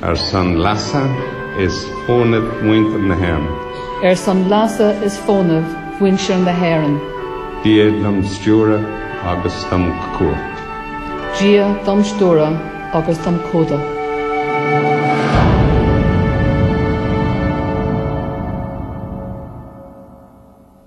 Ar son leasa is fónaimh mhuintir na hÉireann. Ar son leasa is fónaimh mhuintir na hÉireann. Dia dom stiúradh agus dom chumhdach. Dia dom stiúradh agus dom chumhdach.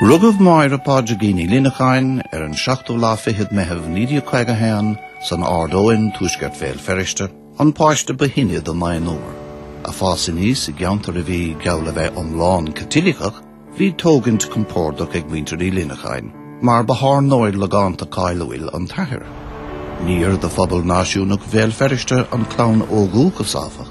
Rugadh Máire Pádraigín Ní Lionnacháin ar an 7ú lá fichead Meitheamh 1951 san Ard Eoin, Tuaisceart Bhéal Feirste, an páiste ba shine de naonúr. Ag fás aníos i gceantar a bhí geall a bheith iomlán Caitliceach, bhí tógaint compordach ag muintir Uí Lionnacháin, mar ba thábhairneoir logánta cáiliúil an t-athair. Níor de phobal náisiúnach Bhéal Feirste an clann ó dhúchas, áfach.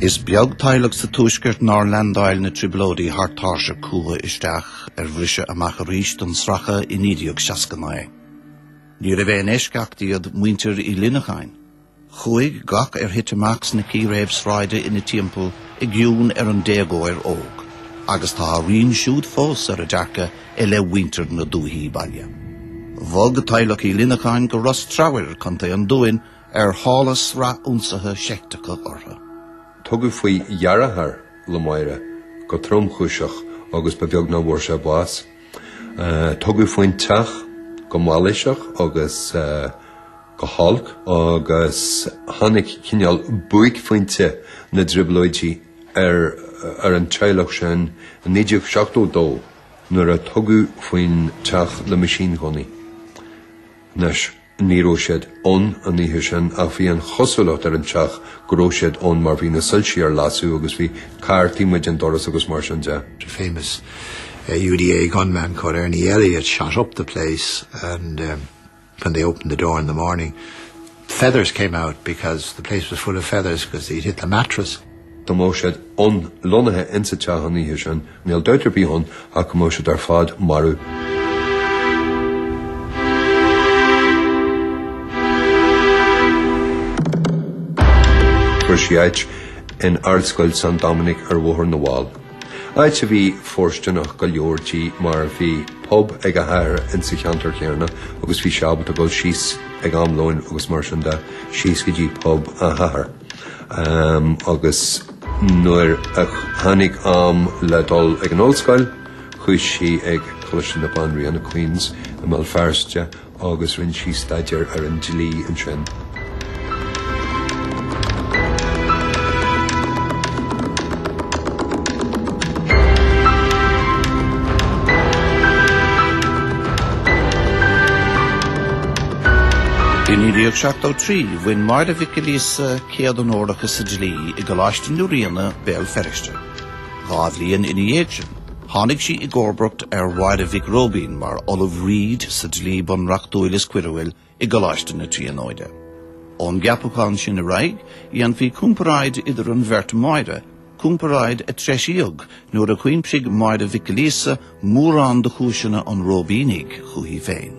Is beag teaghlach sa Tuaisceart nár leandáil na trioblóidí thar tairseach chucu isteach ar bhriseadh amach arís don sracadh i 1969. Níorbh aon eisceacht iad muintir Uí Lionnacháin. Chuaigh gach ar thit amach sna círéib sráide ina dtimpeall i gcion ar an déagóir óg, agus tá a rian siúd fós ar a dearcadh i leith mhuintir na dúthaí baile. Bhog teaghlach Uí Lionnacháin go Ros Treabhair, Co. an Dúin, ar shála sraith ionsaithe seicteacha orthu. Tugadh faoi dheartháir le Máire go tromchúiseach agus ba bheag nach bhfuair sé bás. Tugadh faoin teach go mailíseach agus go holc agus tháinig cineál buaicphointe na dTrioblóidí ar ar an teaghlach sin i 1972 nuair a tugadh faoin teach le meaisínghunnaí. Anois, ní raibh siad ann an oíche sin ach bhí an chosúlacht ar an teach go raibh siad ann mar bhí na soilsí ar lasadh agus bhí carr taobh amuigh den doras agus mar sin de. The famous uh, UDA gunman called Ernie Elliott shot up the place and um, when they opened the door in the morning feathers came out because the place was full of feathers because they had hit the mattress. Dá mbeadh siad ann lonnaithe insa teach an oíche sin, níl dabht ar bith ann ach go mbeadh siad ar fad marbh. Fuair sí áit in Ardscoil San Dominic ar Bhóthar na bhFál. áit a bhí fóirstineach go leor di mar bhí pub ag a hathair insa cheantar chéanna agus bhí sí ábalta dul síos ag am lóin agus mar sin de síos go dtí pub a hathair. Um, agus nuair a tháinig am le dul ag an ollscoil, chuaigh sí ag Coláiste na Banríona Queens i mBéal Feirste agus rinne sí staidéar ar an dlí ansin. I 1973, bhain Máire Mhic Giolla Íosa céad onóracha sa dlí i gColáiste na Ríona, Béal Feirste. Dhá bhliain ina dhiaidh sin, Tháinig sí i gcomharbacht ar Mháire Mhic Róibín mar Ollamh Reid sa Dlí Bunreachtúil is Coiriúil i gColáiste na Tríonóide. Ón gceapachán sin ar aghaidh, dhéanfaí comparáid idir an bheirt Mháire, comparáid a treisíodh nuair a chuimsigh Máire Mhic Giolla Íosa mórán de chúiseanna an Róibínigh chuici féin.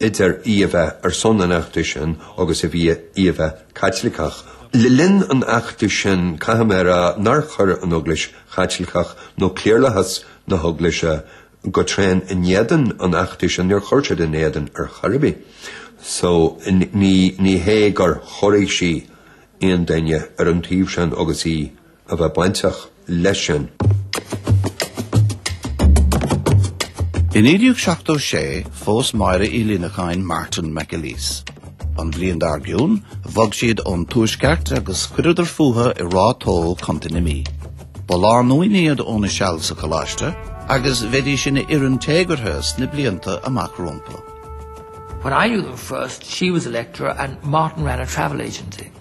idir í a bheith ar son an fheachtais sin agus a bhí í a bheith Caitliceach. Le linn an fheachtais sin caithfidh mé a rá nár chuir an Eaglais Chaitliceach nó cliarlathas na hEaglaise go tréan in éadan an fheachtais sin, níor chuir siad ina éadan ar chor ar bith. So ní hé gur chorraigh sí aon duine ar an taobh sin agus í. a bheith bainteach leis sin. I 1976 phós Máire Ní Lionnacháin Martin McAleese. An bhliain dár gcionn, bhog siad ón Tuaisceart agus chuireadar fúthu i Ráth Tó, Co. na Mí. Ba lánúin iad óna seal sa choláiste agus bheidís ina fhoireann téagartha sna blianta amach rompu. When I knew them first, she was a lecturer and Martin ran a travel agency.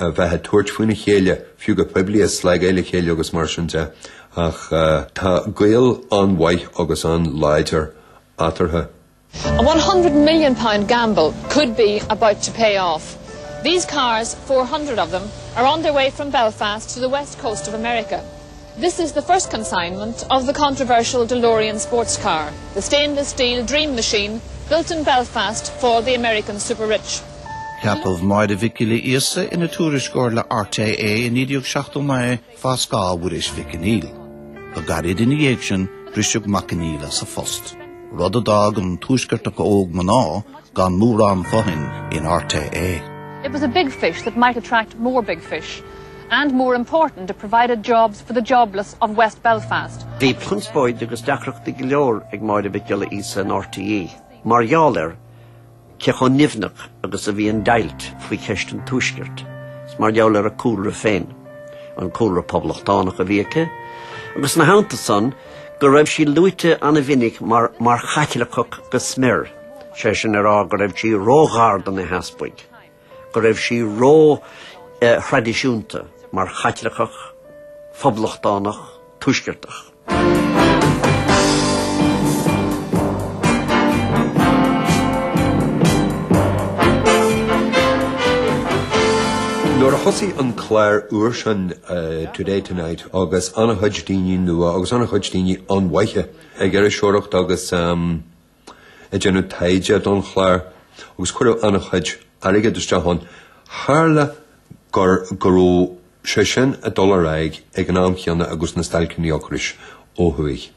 a bheith ag tabhairt faoina chéile, fiú go poiblí, ag slagáil a chéile agus mar sin de, ach tá gaol an-mhaith agus an-láidir eatarthu. A £100 million gamble could be about to pay off. These cars, four hundred of them, are on their way from Belfast to the west coast of America. This is the first consignment of the controversial DeLorean sports car, the stainless steel Dream Machine built in Belfast for the American super rich. Ceapadh Máire Mhic Giolla Íosa ina tuairisceoir le RTÉ i 1979 fá scáth Mhuiris Mhic Conghail. Go gairid ina dhiaidh sin briseadh Mac Conghail as a phost, rud a d'fhág an tuaisceartach óg mná gan mórán fothain in RTÉ. It was a big fish that might attract more big fish. and more important it provided jobs for the jobless of West Belfast. Bhí conspóid agus deacrachtaí go leor ag Máire Mhic Giolla Íosa in RTÉ mar gheall ar cé chomh nimhneach agus a bhí an deighilt faoi cheist an Tuaiscirt is mar gheall ar a cúlra féin, an cúlra poblachtánach a bhí aici, agus ina theannta san, go raibh sí luaite an-mhinic mar mar Chaitliceach go smior, sé sin a rá go raibh sí ró-ghar do na heaspaig. go raibh sí ró thraidisiúnta mar Chaitliceach, Phoblachtánach, Tuaisceartach. Nuair a thosaigh an clár úr sin Today Tonight agus an-chuid daoine nua agus an-chuid daoine an-mhaithe ag iriseoireacht agus ag déanamh taighde don chlár agus cuireadh an-chuid airgid isteach ann. Tharla go raibh sé sin ag dul ar aghaidh ag an am chéanna agus na stailceanna ocrais ó thuaidh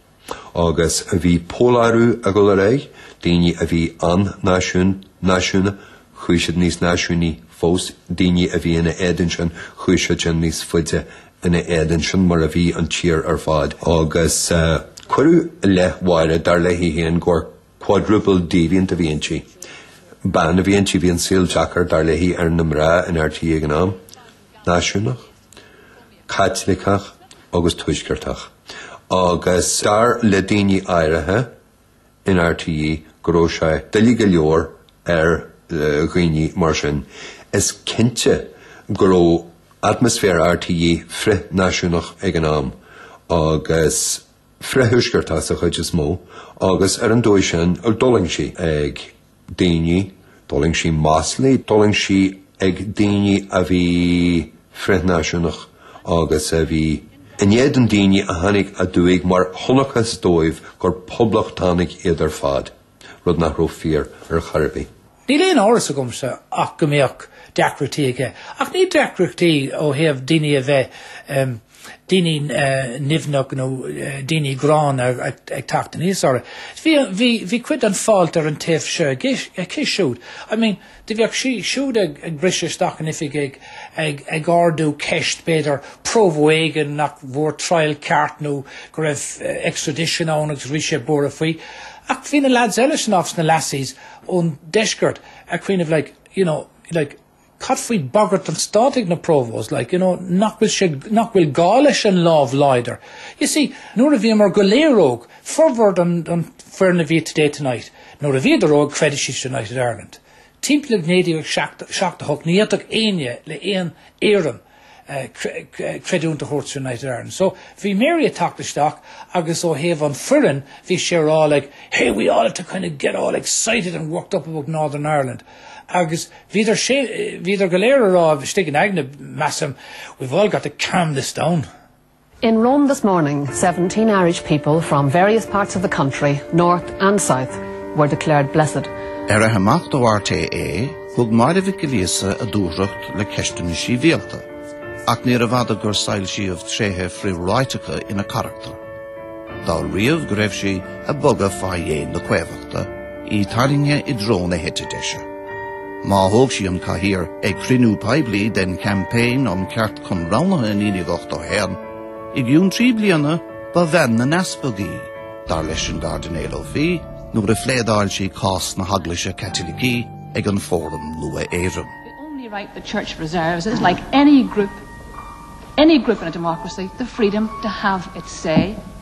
agus bhí polarú ag dul ar aghaidh, daoine a bhí an-náisiúnach chuaigh siad níos náisiúnaí fós, daoine a bhí ina éadan sin chuaigh siad sin níos faide ina éadan sin mar a bhí an tír ar fad agus cuireadh i leith Mháire, dar léi féin, gur quadruple deviant a bhí inti. Bean a bhí inti, bhí an saol deacair, dar léi, ar na mná in RTÉ ag an am. Náisiúnach, Caitliceach agus Tuaisceartach. Agus dar le daoine áirithe, in rte go raibh sé doiligh go leor ar dhaoine mar sin is cinnte go raibh atmasféar rte frith náisiúnach ag an am agus frith thuaisceartach sa chuid is mó agus ar an dóigh sin d'fhulaing sí ag daoine, d'fhulaing sí maslaí, d'fhulaing sí ag daoine a bhí frithnáisiúnach agus a bhí in éadan daoine a tháinig aduaidh mar chonacthas dóibh gur poblachtánaigh iad ar fad, rud nach raibh fíor ar chor ar bith. Níl aon amhras agamsa ach go mbeadh deacrachtaí aige, ach ní deacrachtaí ó thaobh daoine a bheith daoine nimhneach nó daoine gránna ag teacht aníos orthu. Bhí, bhí, bhí cuid den fault ar an taobh seo aici siúd. I mean, do bheadh sí, siúd ag, ag briseadh isteach in oifig ag, ag, ag ardú ceist, b'fhéidir, Provo éigin nach bhfuair triail ceart nó go raibh extradition ann agus bhí sé buartha faoi. Ach bhí na lads eile san áfach, is na lassies ón deisceart, ag cuimhneamh like, you know, like, Cad faoi bagairt an stáit ag na Provos, like, you know, nach bhfuil sé, nach bhfuil gá leis an lámh láidir? You see, nuair a bhíomar go léir óg, formhór an foireann a bhí i Today Tonight, nuair a bhíodar óg chreid siad sa United Ireland. Timpeall 1978 ní fhéadfadh éinne le aon éirim creidiúint a thabhairt sa United Ireland. So bhí Mary ag teacht isteach agus ó thaobh an foireann bhí sí ag rá like hey we ought to kind of get all excited and worked up about Northern Ireland agus bhíodar, bhíodar go léir ag rá istigh in aigne measaim we've all got to calm this down. In Rome this morning, seventeen Irish people from various parts of the country, north and south, were declared blessed. Ar fhaiche amach ó RTÉ, thug Máire Mhic Giolla Íosa a dúthracht le ceisteanna sibhialta, ach níorbh fhada gur soilsíodh tréithe frithráiteacha ina carachtar. D'áiríodh go raibh sí ag bogadh fá dhéin na caomhachta, í tarraingthe i dtreo na heite deise. Má thóg sí an cathaoir ag cruinniú poiblí den Campaign um Ceart, chun roghnaithe i 1981. I gcionn trí bliana ba bhean na n-easpag í, dar leis an gCairdinéal Ó Fiaich nuair a phléadáil sí cás na hEaglaise Caitilicí ag an Fóram Nua-Éireann. The only right the Church reserves is, like any group, any group in a democracy, the freedom to have its say.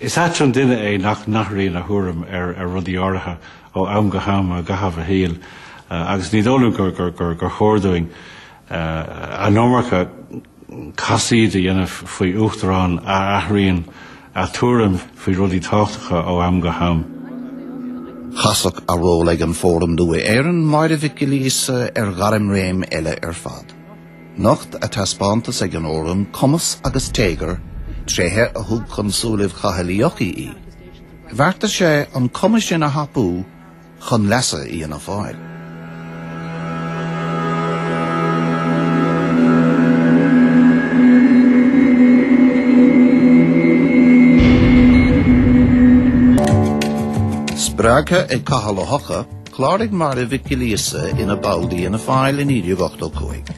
Is ait an duine é nach n-athraíonn a thuairim ar rudaí áirithe ó am go ham i gcaitheamh a shaoil agus ní dóigh liom gur chóir dúinn an iomarca casaoid a dhéanamh faoi Uachtarán a athraíonn a tuairim faoi rudaí tábhachtacha ó am go ham. Chasfadh a ról ag an Fóram Nua-Éireann, Máire Mhic Giolla Íosa, ar ghairmréim eile ar fad. Nocht a taispeántas ag an Fhóram cumas agus téagar, tréithe a thug chun súilibh Chathail Uí Eochaidh í. Bheartaigh sé an cumas sin a thapú chun leasa Fhianna Fáil. Spreagtha ag Cathal Ó hEochaidh, Chláraigh Máire Mhic Giolla Íosa ina ball d'Fhianna Fáil i 1985.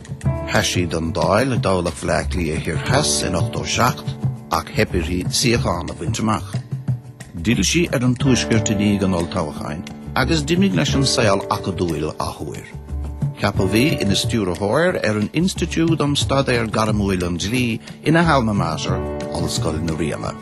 Sheas sí don Dáil i dtoghlach Bhaile Átha Cliath Thoir Theas in 87 ach theip uirthi suíochán a bhaint amach. D'fhill sí ar an tuaisceart i ndiaidh an olltoghcháin agus d'imigh leis an saol acadúil athuair. Ceapadh í ina stiúrthóir ar an Institiúid um Staidéar Gairmiúil an Dlí ina halma mater, Ollscoil na Ríona.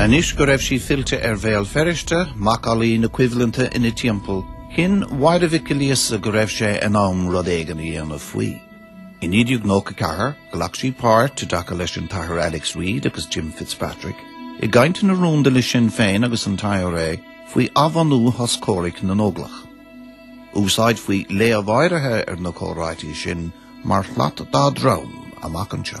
Anois go raibh sí fillte ar Bhéal Feirste, macallaí na coimhlinte ina timpeall, chinn Máire Mhic Giolla Íosa go raibh sé in am rud éigin a dhéanamh faoi. I 1994, ghlac sí páirt, i dtaca leis an tAthair Alex Reid agus Jim Fitzpatrick, i gcainteanna rúnda le Sinn Féin agus an IRA faoi athbhunú shos comhraic na nÓglach. Úsáidfí léamh áirithe ar na comhráití sin mar shlat dá drom amach anseo.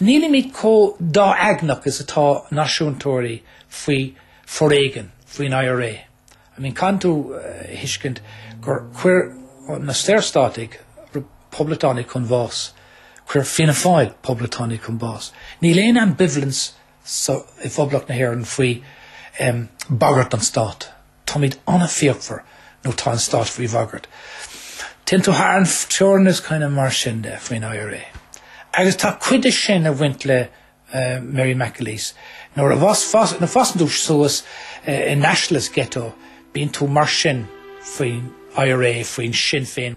Nílimid chomh dá-aigneach is atá náisiúntóirí faoi foréigean faoin IRA. I mean caithfidh tú a thuiscint gur chuir na Saorstátaigh Poblachtánaigh chun bháis, chuir Fianna Fáil Poblachtánaigh chun báis. Níl aon ambivalence sa i bPoblacht na hÉireann faoi em bagairt don stát. Táimid an-fhíochmhar nuair atá an stát faoi bhagairt. Téann tú thar an teorainn is kind of mar sin de faoin IRA. Agus tá cuid de sin ag baint le uh, Mary McAleese. Nuair a fhásann tú suas uh, in Nationalist ghetto, bíonn tú mar sin faoin IRA faoi Sinn Féin.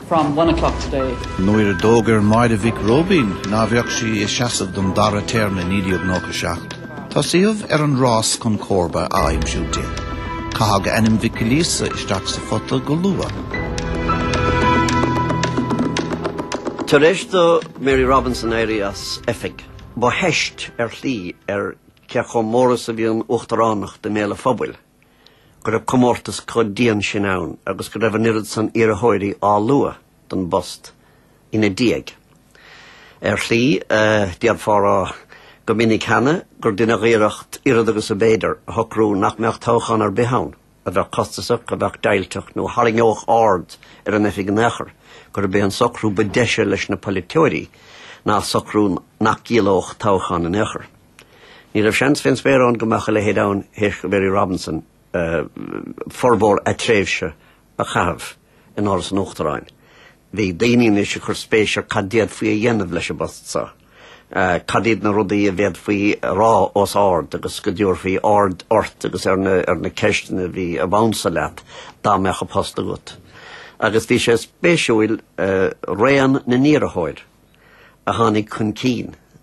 from one o'clock today. Nuair a d'fhógair Máire Mhic Róibín ná beadh sí ag seasamh don dara téarma i 1997, tosaíodh ar an rás chun comharba a aimsiú di. Caitheadh ainm Mhic Ghiolla Íosa isteach sa phota go luath. Tar éis do Mary Robinson éirí as oifig, ba theist ar shlí ar cé chomh mór is a bhí an uachtaránacht i mbéal an phobail go raibh comórtas chomh dian sin ann agus go raibh an oiread san iarrthóirí á lua don bpost ina diaidh. Ar shlí, eh, déarfá go minic cheana gur deineadh iarracht oiread agus a b'fhéidir a shocrú nach mbeadh toghchán ar bith ann, a bheadh costasach, a bheadh deighilteach nó a tharraingeodh aird ar an oifig in aon chor, gurb é an socrú ba deise leis na polaiteoirí ná socrú nach gciallódh toghchán in aon chor. Ní raibh seans fén spéir ann go mbeadh a leithéid ann théis do Mary Robinson formhór a tréimhse, a chaitheamh in Áras an Uachtaráin. Bhí daoine anois ag cur spéis ar cad d'fhéadfaí a dhéanamh leis an bpost seo. Cad iad na rudaí a bhféadfaí a rá os ard agus go dtabharfaí aird ort agus ar na, ar na ceisteanna a bhí ab ansa leat dá mbeadh an post agat. Agus bhí sé spéisiúil raon na n-iarrthóir a tháinig chun cinn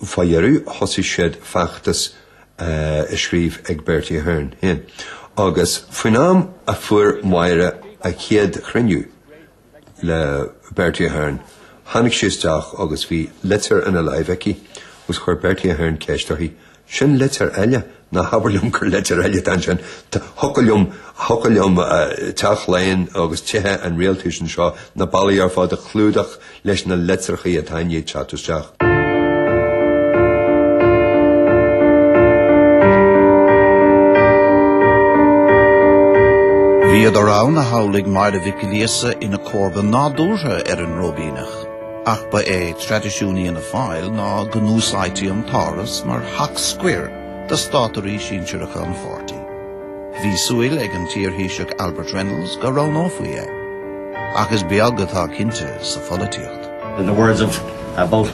Fá dheireadh thosaigh siad feachtas ag scríobh ag Bertie Ahern féin agus faoin am a fuair Máire an chéad chruinniú le Bertie Ahern tháinig sí isteach agus bhí litir ina láimh aici agus chuir Bertie Ahern ceist uirthi, 'Sin litir eile? Ná habair liom gur litir eile atá ansin. Thiocfadh liom, thiocfadh liom Teach Laighean agus tithe an rialtais anseo, na ballaí ar fad a chlúdach leis na litreachaí atá i ndiaidh teacht isteach. Bhíodar ann a shamhlaigh Máire Mhic Ghiolla Íosa ina comharba nádúrtha ar an Róibíneach. ach ba é traidisiún Fhianna Fáil ná go n-úsáidtí an tÁras mar theach scoir do státairí sinsearacha an pháirtí. Bhí súil ag an t-iarThaoiseach Albert Reynolds go roghnófaí é. Ach is beag atá cinnte sa pholaitíocht. In the words of uh, both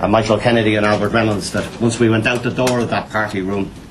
uh, Michael Kennedy and Albert Reynolds, that once we went out the door of that party room,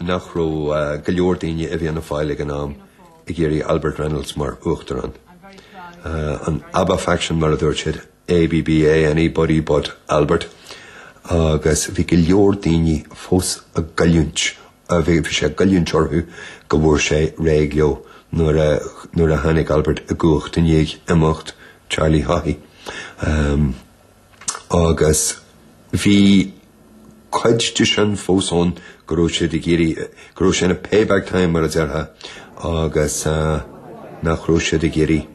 nach raibh go leor daoine i bhFianna Fáil ag an am ag iarraidh Albert Reynolds mar Uachtarán. An Abba Faction mar a dúirt siad, ABBA, Anybody But Albert, agus bhí go leor daoine fós ag goilliúint, bhí sé ag goilliúint orthu go bhfuair sé réidh leo nuair a tháinig Albert i gcumhacht i ndiaidh imeacht Charlie Haughey. agus bhí cuid de sin fós ann go raibh siad ag iarraidh, go raibh sé ina payback time mar a déarfá, agus nach raibh siad ag iarraidh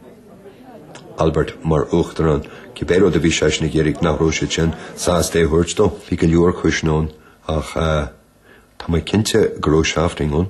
Albert mar Uachtarán, cibé rud a bhí seisean ag iarraidh nach raibh siadsan sásta é a thabhairt dó. Bhí go leor cúiseanna ann, ach tá mé cinnte go raibh seifting ann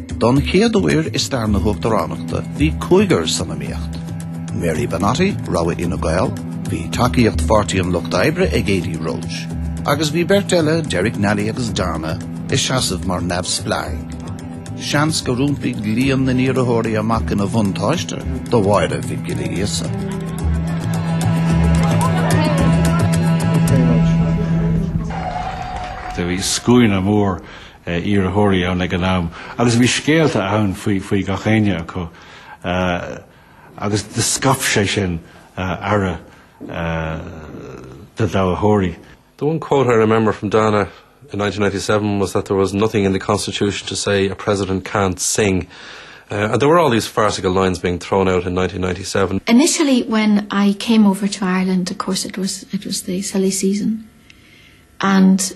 Don chéad uair i stair na hUachtaránachta bhí cúigear san iomaíocht. Mary Banotti, rogha Fhine Gael, bhí tacaíocht Pháirtí an Lucht Oibre ag Adi Roche, agus bhí beirt eile Derek Nally agus Dana ag seasamh mar neamhspleáigh. Seans go n-iompódh líon na n-iarrthóirí amach ina bhuntáiste do Mháire Mhic Giolla Íosa. Bhí scuaine mór iarrthóirí ann ag an am agus bhí scéalta ann faoi, faoi gach éinne acu uh, agus de scap sé sin uh, ara uh, eh, de dáthóirí. The one quote I remember from Dana in 1997 was that there was nothing in the constitution to say a president can't sing. Uh, and there were all these farcical lines being thrown out in 1997. Initially, when I came over to Ireland, of course, it was it was the silly season, and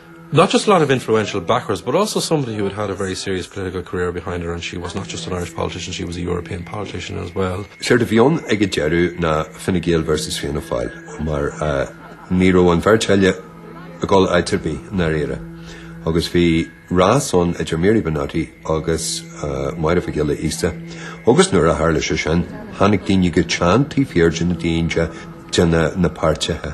Not just a lot of influential backers but also somebody who had had a very serious political career behind her and she was not just an Irish politician, she was a European politician as well. Séard a bhí ann ag an deireadh ná Fine Gael versus Fianna Fáil mar ní raibh an bheirt eile ag dul áit ar bith i ndáiríre agus bhí rás ann idir Mary Banotti agus Máire Mhic Giolla Íosa agus nuair a tharla sé sin tháinig daoine go teann taobh thiar de na daoine, de na páirtithe.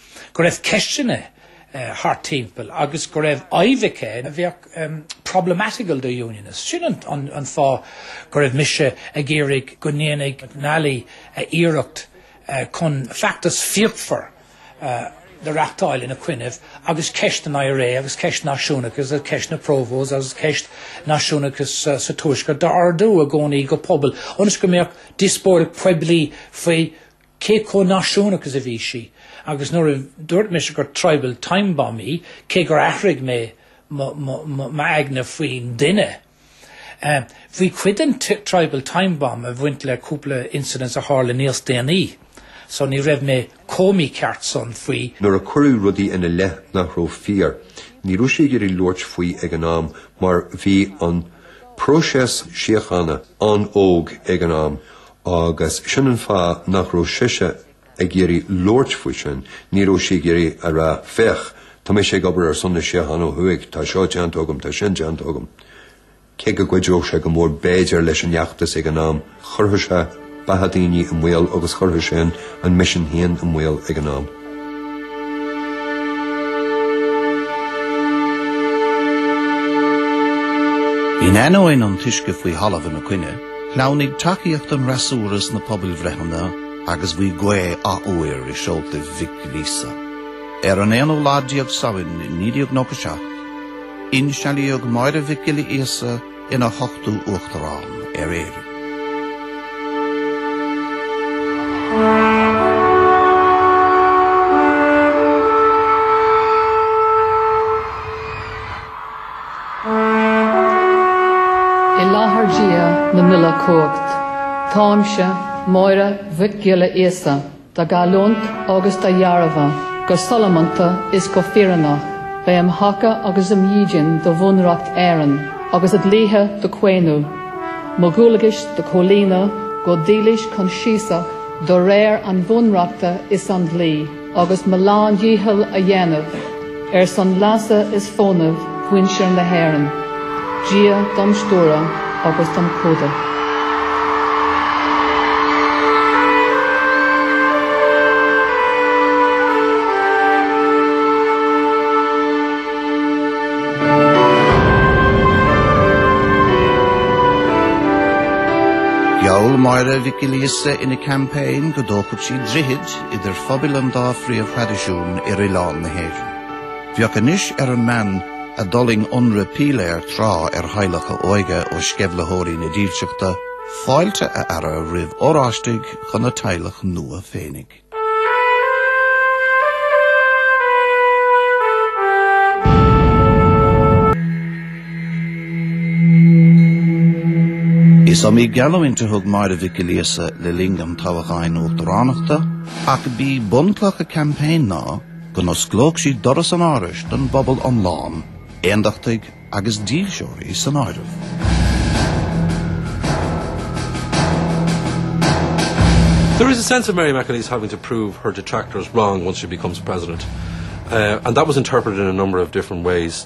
go raibh ceisteanna thart timpeall agus go raibh íomhá aici a bheadh problematical do Unionists. Sin an fáth go raibh mise ag iarraidh go ndéanfadh Nally iarracht chun feachtas fíochmhar a reáchtáil ina coinnibh agus ceist an IRA agus ceist náisiúnachas agus ceist na Provos agus ceist náisiúnachas sa Tuaisceart a ardú i gcónaí go poiblí ionas go mbeadh díospóireacht poiblí faoi cé chomh náisiúnach is a bhí sí agus nuair a dúirt mise gur tribal time bomb í, cé gur athraigh mé m'aigne faoin duine. Bhí cuid den tribal time bomb ag bhaint le cúpla incidents a tharla níos déanaí, so ní raibh mé chomh mícheart san faoi. Nuair a cuireadh rudaí ina leith nach raibh fíor, ní raibh sí ag iarraidh labhairt faoi ag an am mar bhí an próiseas síochána an-óg ag an am agus sin an fáth nach raibh sise ag iarraidh labhairt faoi sin, ní raibh sí ag iarraidh a rá 'féach, tá mise ag obair ar son na síochána ó thuaidh, tá seo déanta agam, tá sin déanta agam'. Cé go gcuideodh sé go mór b'fhéidir leis an fheachtas ag an am, chuirfeadh sé beatha daoine i mbaol agus chuirfeadh sé an misean féin i mbaol ag an am. In ainneoin an uisce faoi thalamh ina coinne, shleamhnaigh tacaíocht an fhreasúra sna pobalbhreitheanna agus bhí gaoth athuair i seolta Mhic Giolla Íosa. Ar an 11ú lá Samhain 1997, insealbhaíodh Máire Mhic Giolla Íosa ina hochtú Uachtarán ar Éirinn. I láthair Dhia na n-uile chumhacht, táimse, Máire Mhic Giolla Íosa. á ghealltúint agus á dhearbhú, go sollúnta is go fíreannach, bheith im thaca agus im dhídean do Bhunreacht Éireann agus a dlíthe do chaomhnadh, mo dhualgais do chomhlíonadh go dílis coinsiasach do réir an Bhunreachta is an dlí, agus mo lán-dhícheall a dhéanamh. Ar son leasa is fónaimh mhuintir na hÉireann, Dia dom stiúradh agus dom chumhdach. Gheall Máire Mhic Giolla Íosa ina campaign go dtógfadh sí droichid, idir phobail an dá phríomhthraidisiún ar oileán na hÉireann. Bheadh anois ar an mbean a d'fhulaing ionradh píléar tráth ar theaghlach a hóige ó sceimhlitheoirí na dílseachta, fáilte a fhearadh roimh Oráistigh chun a teaghlach nua féinig. Is iomaí geallúint a thug Máire Mhic Giolla Íosa le linn an toghcháin uachtaránachta, ach b'é bunchloch a campaign ná go n-osclódh sí doras an árais don bpobal iomlán, aondachtaigh agus dílseoirí san áireamh. There is a sense of Mary McAleese having to prove her detractors wrong once she becomes president. Uh, and that was interpreted in a number of different ways.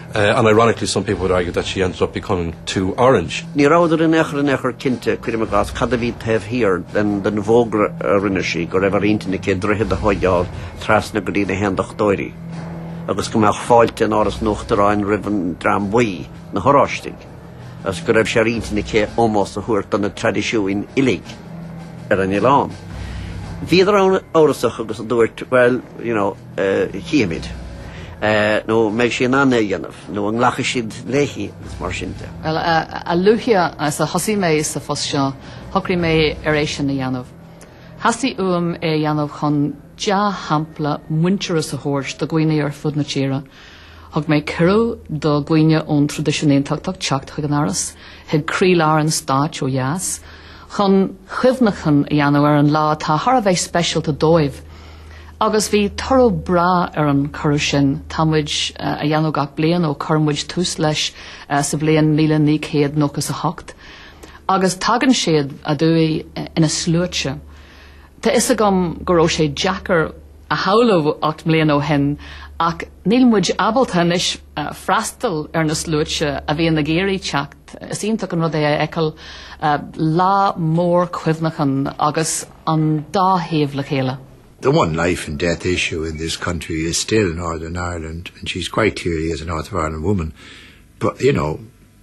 and ironically some people would argue that she ended up becoming too orange. Ní rabhadar in aon chor cinnte, cuirim i gcás, cad a bhí taobh thiar den bhfógra a rinne sí go raibh ar intinn aici droichead a thóigeáil trasna go dtí na hAondachtóirí agus go mbeadh fáilte in Áras an Uachtaráin roimh an dream buí, na hOráistigh, agus go raibh sé ar intinn aici ómós a thabhairt do na traidisiúin uilig ar an oileán. Bhíodar an-amhrasach agus a dúirt, 'Bhuel, you know. chífimid, nó an mbeidh sí in ann é a dhéanamh, nó an nglacfaidh siad léi, agus mar sin de. Bhuel, a luaithe is a thosaigh mé sa phost seo, shocraigh mé ar é sin a dhéanamh. Theastaigh uaim é a dhéanamh chun dea-shampla muintearas a thabhairt do dhaoine ar fud na tíre. Thug mé cuireadh do dhaoine ón traidisiún Aontachtach teacht chuig an Áras, chuig croílár an stáit ó dheas, chun cuimhneachán a dhéanamh ar an lá atá thar a bheith speisialta dóibh. Agus bhí toradh breá ar an chuireadh sin, tá muid á dhéanamh gach bliain ó chuir muid tús leis sa bhliain míle naoi gcéad nócha is a hocht. Agus tagann siad aduaidh ina sluaite. Tá fhios agam go raibh sé deacair a shamhlú ocht mbliana ó shin ach níl muid ábalta anois freastal ar na sluaite a bhíonn ag iarraidh teacht. Is iontach an rud é a fheiceáil lá mór cuimhneacháin agus an dá thaobh le chéile. The one life and death issue in this country is still Northern Ireland and she's quite clearly as a North of Ireland woman but you know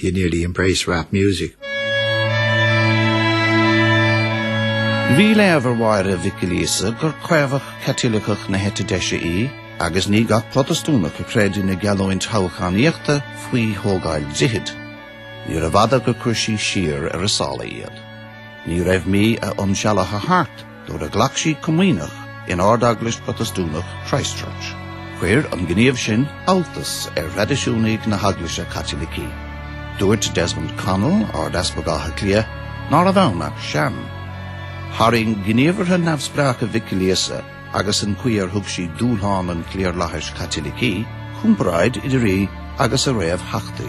You nearly embrace rap music. Bhí léamh ar Mháire Mhic Giolla Íosa gur caomhach Caitliceach na heite deise í agus ní gach Protastúnach a chreid ina geallúint thoghchánaíochta faoi thógáil droichid. Níorbh fhada gur chuir sí siar ar a sála iad. Ní raibh mí a insealbhaithe thart. nuair a ghlac sí comaoineach in Ard-Eaglais Protastúnach Christchurch. Chuir an gníomh sin alltacht ar thraidisiúnaigh na hEaglaise Caitlicí. Dúirt Desmond Connell, Ard-Easpag Átha Cliath, ná raibh ann ach sham. Tharraing gníomhartha neamhspleácha Mhic Giolla Íosa agus an chaoi ar thug sí dúshlán an chliarlathais Chaitlicigh comparáid idir í agus a réamhtheachtaí.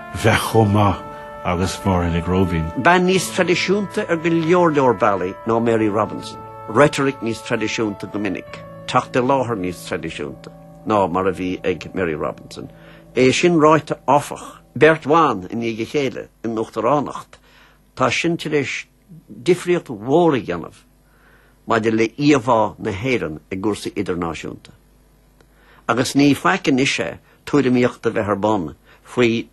bheith chomh maith agus Máire Mhic Róibín. Bean níos traidisiúnta ar go leor leor bealaí ná Mary Robinson, reitoric níos traidisiúnta go minic, teacht i láthair níos traidisiúnta ná mar a bhí ag Mary Robinson. É sin ráite áfach, beirt bhan i ndiaidh a chéile in uachtaránacht, tá sin tar éis difríocht mhór a dhéanamh maidir le íomhá na hÉireann i gcúrsaí idirnáisiúnta. Agus ní faic anois é tuairimíocht a bheith ar bun faoi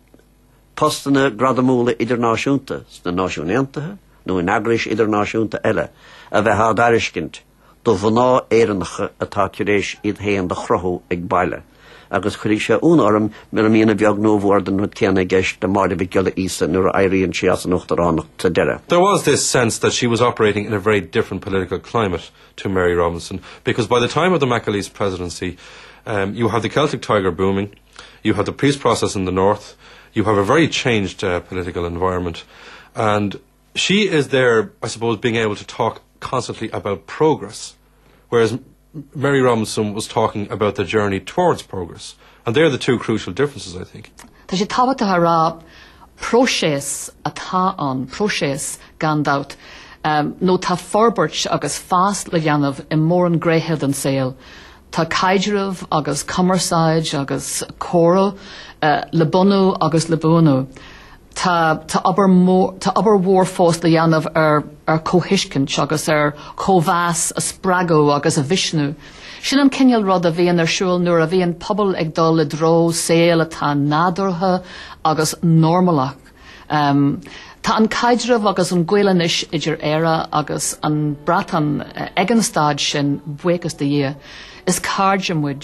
postanna gradamúla idirnáisiúnta sna Náisiún Aontaithe nó in eagrais idirnáisiúnta eile a bheith á dtairiscint do mhná Éireannacha atá tar éis iad féin do chruthú ag baile agus cuirfidh sé ionadh orm mura mbíonn a bheag nó a mhór den rud céanna i gceist le Máire Mhic Giolla Íosa nuair a éiríonn sí as an uachtaránacht sa deireadh. There was this sense that she was operating in a very different political climate to Mary Robinson because by the time of the McAleese presidency um, you have the Celtic Tiger booming, you have the peace process in the north, you have a very changed uh, political environment and She is there I suppose being able to talk constantly about progress whereas Mary Robinson was talking about the journey towards progress and they're the two crucial differences I think. Tá sé tábhachtach a rá próiseas atá ann, próiseas gan dabht, nó tá forbairt agus fás le dhéanamh i mórán gnéithe den saol. Tá caidreamh agus cumarsáid agus comhrá le bunú agus le buanú. Tá tá obair mhór fós le dhéanamh ar ar comhthuiscint agus ar chomhmheas a spreagadh agus a mhisniú. Sin an cineál rud a bhíonn ar siúl nuair a bhíonn pobal ag dul i dtreo saol atá nádúrtha agus normalach. Tá an caidreamh agus an gaol anois idir Éire agus an Breatain ag an staid sin buíochas do Dhia. Is cairde muid.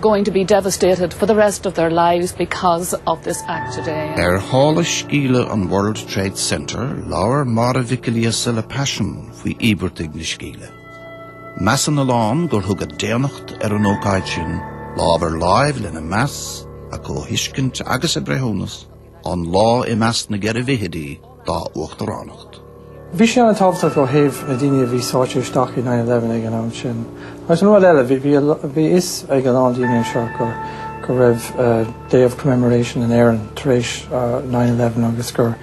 going to be devastated for the rest of their lives because of this act today. Ar shála scéala an World Trade Center, labhair Máire Mhic Giolla Íosa le paisean faoi íospartaigh na sceimhle. Measann a lán gur thug a daonnacht ar an ócáid sin lámh ar láimh lena meas, a comhthuiscint agus a breithiúnas an lá i measc na mbuaicphointí dá uachtaránacht. Bhí sé ana-thábhachtach ó thaobh na daoine a bhí sáite isteach i nine eleven ag an am sin. Agus an rud eile, bhí fhios ag a lán daoine anseo go raibh Day of Commemoration in Éirinn tar éis nine eleven agus gur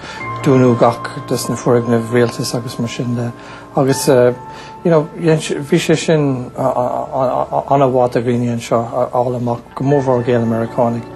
dúnadh gach de sna foirgnimh rialtais agus mar sin de agus you know dhein sé, bhí sé sin an-mhaith do dhaoine anseo a fháil amach go mór mhór Gael-Mheiriceánaigh.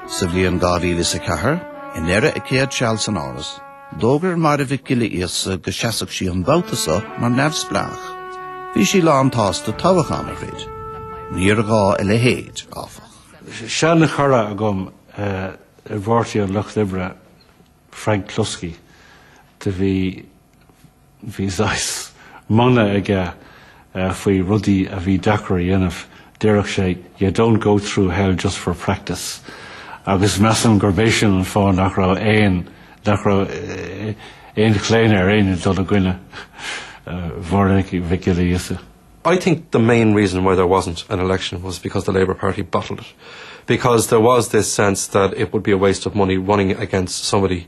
Sa bhliain 2004, i ndeireadh a céad seala san Áras, d'fhógair Máire Mhic Giolla Íosa go seasfadh sí an babhta seo mar neamhspleách. Bhí sí lán tsásta toghachán a throid. Níor ghá a leithéid, áfach. Seana chara agam i bPáirtí an Lucht Oibre, Frank Cluskey, do bhí Bhí saghas mana aige faoi rudaí a bhí deacair a dhéanamh, déarfadh sé you don't go through hell just for practice agus measaim gurb é sin an fáth nach raibh aon nach raibh aon chlaonadh ar éinne dul i gcoinne Mháire Mhic Giolla Íosa. I think the main reason why there wasn't an election was because the Labour Party bottled it, because there was this sense that it would be a waste of money running against somebody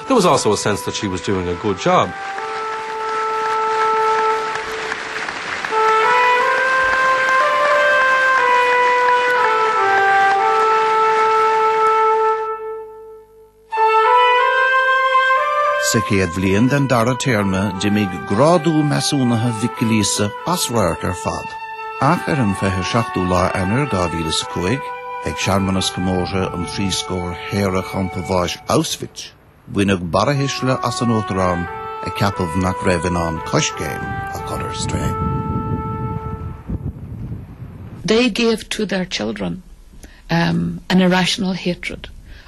There was also a sense that she was doing a good job. Sa chéad bhliain den dara téarma d'imigh grádú measúnaithe Mhic Giolla Íosa as radharc ar fad, ach ar an 27ú lá Eanáir 2005, Ag searmanas comórtha trí scór bliain shaoradh champa bháis Auschwitz, baineadh barrathuisle as an Uachtarán a ceapadh nach raibh in ann di coiscéim a chur ar strae. They gave to their children an irrational hatred.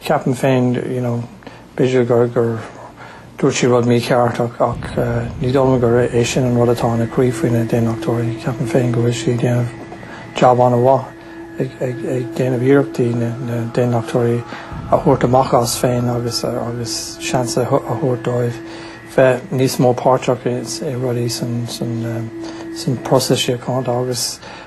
Ceapaim féin, you know, b'fhéidir gur, gur dúirt sí rud mícheart ach, ach ní dóigh liom gur é sin an rud atá ina croí faoi na hAontachtóirí. Ceapaim féin go bhfuil sí ag déanamh jab an-mhaith ag, ag, ag déanamh iarrachtaí na, na hAontachtóirí a thabhairt amach astu féin agus, agus seans a, a thabhairt dóibh bheith níos mó páirteach i, i rudaí san, san, san próiseas síochána agus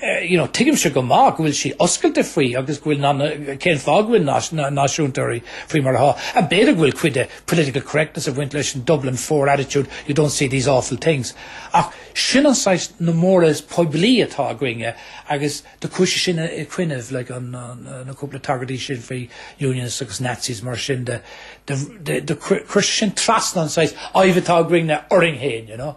Tuigimse go maith go bhfuil sí oscailte faoi agus go bhfuil cén fáth go bhfuil náisiúntóirí faoi mar athá. Agus b'fhéidir go bhfuil cuid de political correctness ag baint leis an Dublin Four attitude, you don't say these awful things. Ach sin an saghas namhaid phoiblí atá againne agus de chúis é sin a chuimhneamh, like na cúpla tagairtí sin faoi unionists agus Nazis mar sin de, do chuir sé sin trasna an saghas fhadhb atá againne orainn féin, you know.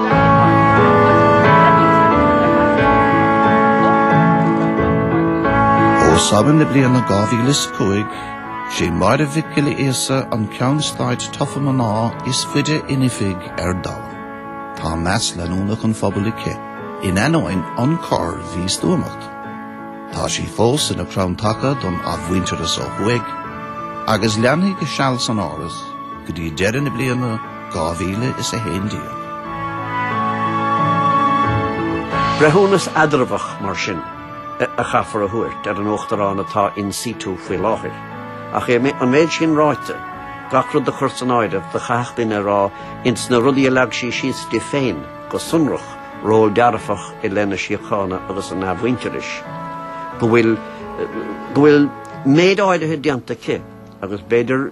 Ó Samhain na bliana 2005, 'sí Máire Mhic Giolla Íosa an ceann stáit tofa mná is faide in oifig ar domhan. Tá meas leanúnach an phobail aici, in ainneoin an corr-mhístuamacht. Tá sí fós ina crann taca don athmhuintearas ó thuaidh, agus leanfaidh a seal san áras go dtí deireadh na bliana 2011. Breithiúnas eatramhach, mar sin, a chaithfear a thabhairt ar an Uachtarán atá in situ faoi láthair, ach an méid sin ráite, gach rud a chur san áireamh, do chaithfeadh duine a rá, ins na rudaí a leag sí síos di féin, go sonrach, ról dearfach i leith na síochána agus an athmhuintearais, go bhfuil, go bhfuil méid áirithe déanta aici, agus b'fhéidir,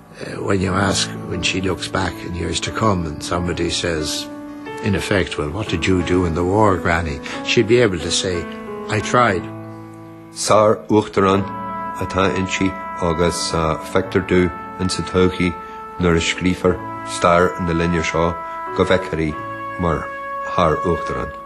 When you ask when she looks back in years to come and somebody says in effect well what did you do in the war granny she'll be able to say I tried. Sár-Uachtarán atá inti agus feictear domh ins an todhchaí nuair a scríobhfar stair na linne seo go bhfeicfear í mar Shár-Uachtarán.